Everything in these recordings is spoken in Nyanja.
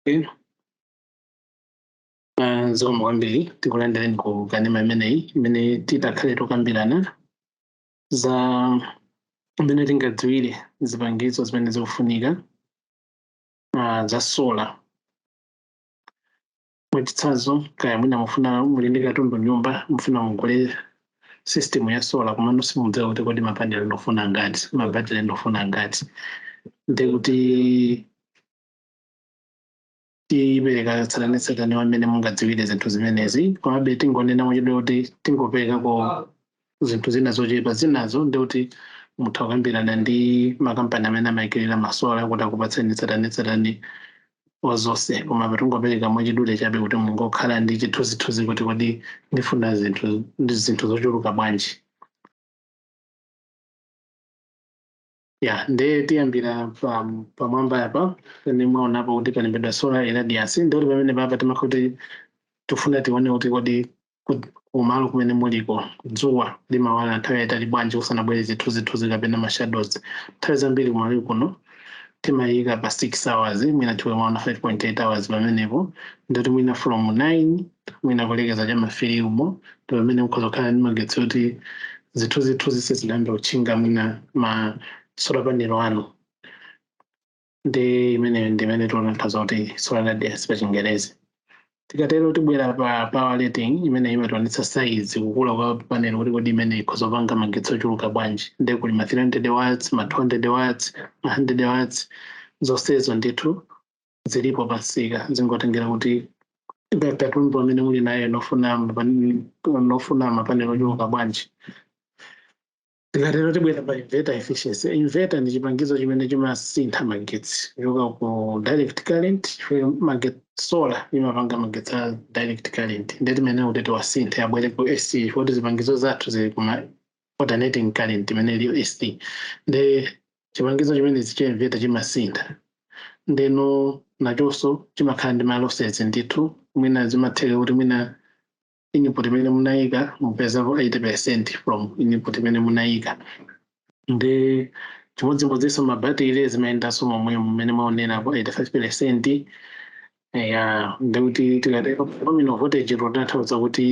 Okay. Ah, zikomo kwambiri tikulandireni ku kanema imeneyi imene titakhale tokambirana za mmene tingadziwire zipangizo zimene zikufunika ah, za solar mwachitsanzo kaya mwina mufuna muli ndi katundu nyumba mufuna mugule system ya solar komano simudziwa kuti kodi mapanel ndofuna angati mabatire ndofuna angati nde kuti tipereka tsatanetsatane wa mmene mungadziwire zinthu zimenezi komabe tingonena mwachidule kuti tingoperekako zinthu zina zochepa zinazo ndi kuti mutha kukambirana ndi makampani amene amayikirira ma solar kuti akupatseni tsatanetsatane wa zonse koma apa tingopereka mwachidule chabe kuti mungokhala ndi chithunzithunzi kuti kodi ndifuna zinthu zinthu zochuluka bwanji ya nde tiyambira pam- pamwamba apa pene mwaonapo kuti palembedwa solar irradiance ndoti pamene papa timakhala kuti tifuna tione kuti kodi ku- kumalo kumene muliko dzuwa limawala nthawi yaitali bwanji kusanabwere zithunzithunzi kapena mashadows nthawi zambiri kumalo kuno timayika pa 6 hours mwina mmene mwaona 5.8 hours pamenepo ndoti mwina from 9 mwina kulekeza cha ma 3 umo pamene mukhoza kukhala ndi magetsi oti zithunzithunzi sizinayambe kutchinga mwina ma solar panel anu ndi imeneyo ndi imene timanena kuti solar irradiance pa chingerezi tikatero tibwera pa power rating imene imationetsa size kukula kwa panel kuti kodi imeneyi ikhoza kupanga magetsi ochuluka bwanji nde kuli ma 300 watts ma 200 watts ma 100 watts zonsezo ndithu zilipo pamsika zingotengera kuti ka- katundu amene muli naye nofuna mapani- nofuna mapanel ochuluka bwanji tikatero tibwera pa inverter efficiency inverter ndi chipangizo chimene chimasintha magetsi kuchoka ku direct current chifukwa magetsi solar imapanga magetsi a direct current nde timayenera kuti tiwasinthe abwere ku ac chifukwa zipangizo zathu zili kuma alternating current imene iliyo AC nde chipangizo chimenechi cha inverter chimasintha ndeno nachonso chimakhala ndi ma losses ndithu mwina zimatheka kuti mwina input imene munayika mupezapo 80% from input imene munayika ndi chimodzimodzinso mabatire zimayendanso momwe mmene mwaonerapo 85% ya ndikuti tikati nominal voltage totanthauza kuti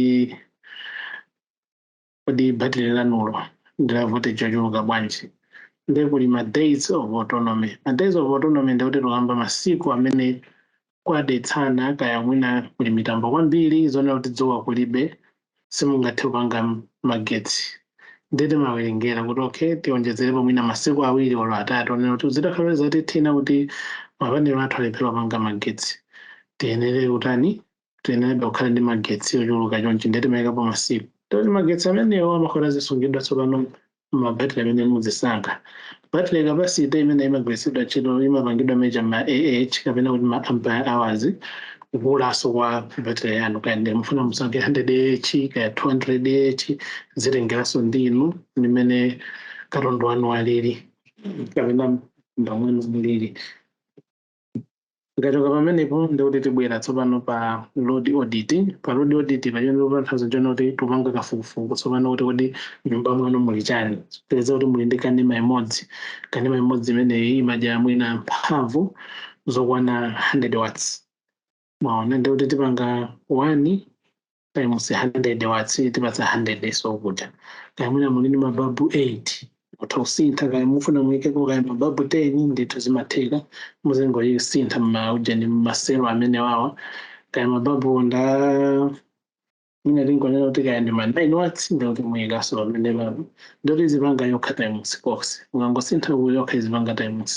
Kodi batire lanulo ndi la voltage yochuluka bwanji? Ndiye kuli ma days of autonomy. Ma days of autonomy ndiye kuti tikukamba masiku amene kwadetsana kaya mwina kuli mitambo kwambiri zonena kuti dzuwa kulibe simungathe kupanga magetsi ndiye timawerengera kuti okay tionjezerepo mwina masiku awiri olo atatu onena kuti zitakhala kuti zatithina kuti mapanelo athu alephera kupanga magetsi tiyenere kutani tiyenerabe kukhala ndi magetsi ochuluka chonchi ndiye timayikapo masiku ndoti magetsi amenewo amakhala azisungidwa tsopano mabatiri amene muzisankha battery capacity imene imagwiritsidwa ntchito imapangidwa measure ma ah kapena kuti ma ampere hours kukulaso kwa batiri yanu kaya ndi mufuna musankhe 100 ah kaya 200 ah zitengeraso ndi inu ndi mmene katundu wanu alili kapena ndamwenu mulili tikachoka pamenepo ndikuti tibwera tsopano pa load audit pa load audit apa chimene tikutanthauza nchona kuti tupanga kafukufuku tsopano kuti kodi nyumba mwanu muli chani tipeza kuti muli ndi kanema imodzi kanema imodzi imeneyi imadya mwina mphamvu zokwana 100 watts mwaona ndi kuti tipanga 1 times 100 watts itipatsa 100 so kuja kaya mwina muli ndi mababu 8 mutha kusintha kaya mufuna muyikeko kaya mababu 10 ndithu zimatheka muzingoyisintha mmaujeni mmaselo amenewawa kaya mababu nda Mwina tingonena kuti kaya ndi ma 9 watts ndi kuti muyikaso pamene pano. Ndi kuti izipanga yokha times coz. Mukangosintha uku yokha izipanga times.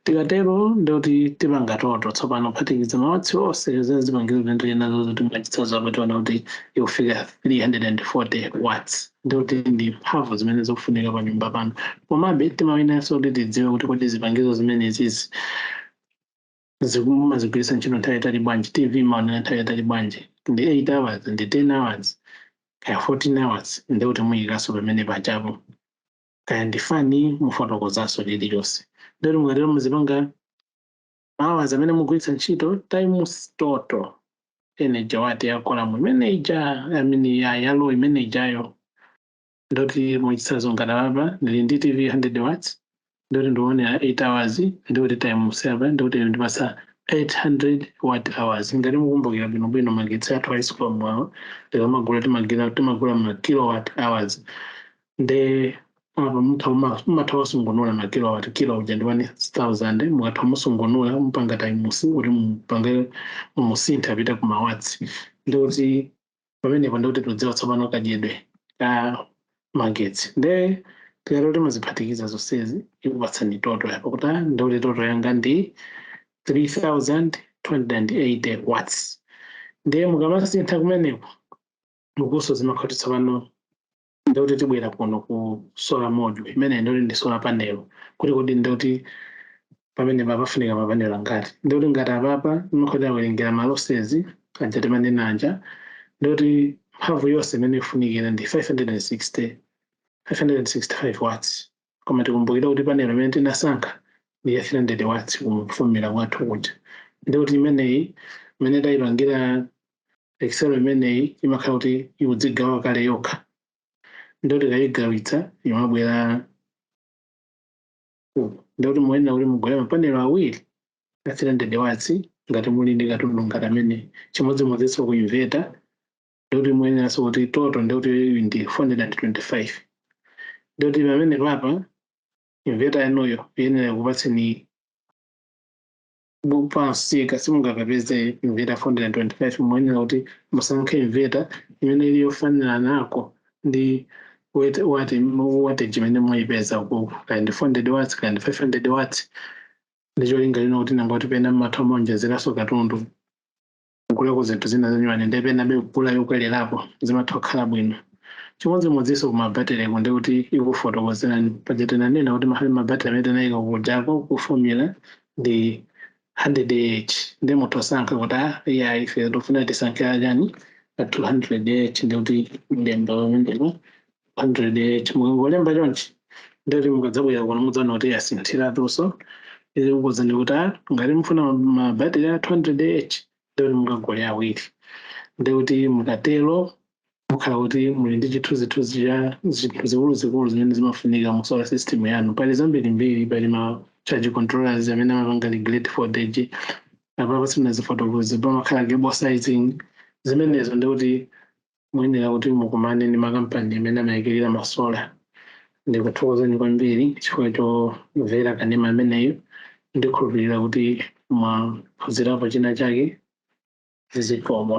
Tikatero ndi kuti tipanga total. Tsopano kuphatikiza mawatsi onse a zipangizo zimene tili nazozo mwachitsanzo apa tiona kuti ikufika 340 watts. Ndi kuti ndi mphamvu zimene zikufunika pa nyumba panu. Komabe timayeneranso kuti tidziwe kuti kodi zipangizo zimenezi izi. zikumu mumazigwiritsa ntchito nthawi yatali bwanji tv mumaonera nthawi yatali bwanji ndi 8 hours ndi 10 hours kaya 14 hours ndi kuti muyikaso pamenepajapo kaya ndi fani mufotokozaso chilichonse ndi kuti mukatero muzipanga hours amene mugwiritsa ntchito times total energy watt ya column imene ija I mean ya row imene ijayo ndoti mwachitsanzo ngati apapa ndili ndi tv 100 watts ndoti ndionera 8 hours ndikuti times apa ndikuti ndipasa 800 watt hours ngati mukumbukira bwinobwino magetsi athu a Escom awo tikamagula timagula timagula ma kilowatt hours nde apa mutha uma- umatha kusungunula ma kilowatt kilo uja ndi 1000 mukatha musungunula mupanga times kuti mupange musintha apite ku mawatts ndikuti pamenepo ndikuti tudziwa tsopano kadyedwe ka magetsi nde tikatero timaziphatikiza zonsezi ikupatsani total yapo kuti ah, ndikuti total yanga ndi 3280 watts ndiye mukamasintha kumeneko ukuso zimakhala tsopano ndikuti tibwera kuno ku solar module imene ndikuti ndi solar panel kuti kodi ndikuti pamene papafunika mapanelo angati ndikuti ngati apapa tikawerengera ma losses aja timanena aja ndikuti mphamvu yonse imene ifunikira ndi 560 565 watts Koma tikumbukire kuti panel imene tinasankha ndi ya 300 watts ku formula kwathu kuja ndiye kuti imeneyi mmene taipangira excel imeneyi imakhala kuti ikudzigawa kale yokha ndiye kuti tikayigawitsa imabwera uku ndiye kuti muyenera kuti mugule mapanelo awiri a 300 watts ngati muli ndi katundu ngati amene chimodzimodzinso ku inverter ndikuti muyeneranso kuti total ndikuti iyi ndi 425 ndikuti pamene papa inveta yanuyo iyenera kukupatsani pamsika simungakapeze inveta 425 muyenera kuti musankhe inveta imene ili yofanana nako ndi wet- wati wateji imene muyipeza kaya ndi 400 watts kaya ndi 500 watts ndicholinga chonena kuti nanga poti pena mumatha kuonjezeranso katundu kugulako zinthu zina zanyuwani nde penabe kugula yokwelerapo zimatha kukhala bwino chimodzimodzinso kumabatereko ndi kuti ikufotokozerani paja tinanena kuti mahali mabateri amene tinayika kujako ku formula ndi 100 ah nde mutha osankha kuti a iyayi ife tikufuna tisankhe achani a 200 ndi kuti mlemba pamenepo 108 mukangolemba chonchi ndikuti mukadzabwera kuno mudzaona kuti yasinthiratunso izikuuzani ndikuti a ngati mufuna ma- mabateri a 200 ah ndikuti mukagule awiri ndikuti mukatero mukhala kuti muli ndi chithunzithunzi cha zinthu zikuluzikulu zimene zimafunika mu solar system yanu pali zambirimbiri pali ma charge controllers amene amapanga regulate voltage apapa sindinazifotokoze pamakhala cable sizing zimenezo ndikuti muyenera kuti mukumane ndi makampani amene amayikirira ma solar. Ndikuthokozeni kwambiri chifukwa chomvera kanema ameneyu. Ndikhulupirira kuti mwaphunzirapo china chake. Zikomo.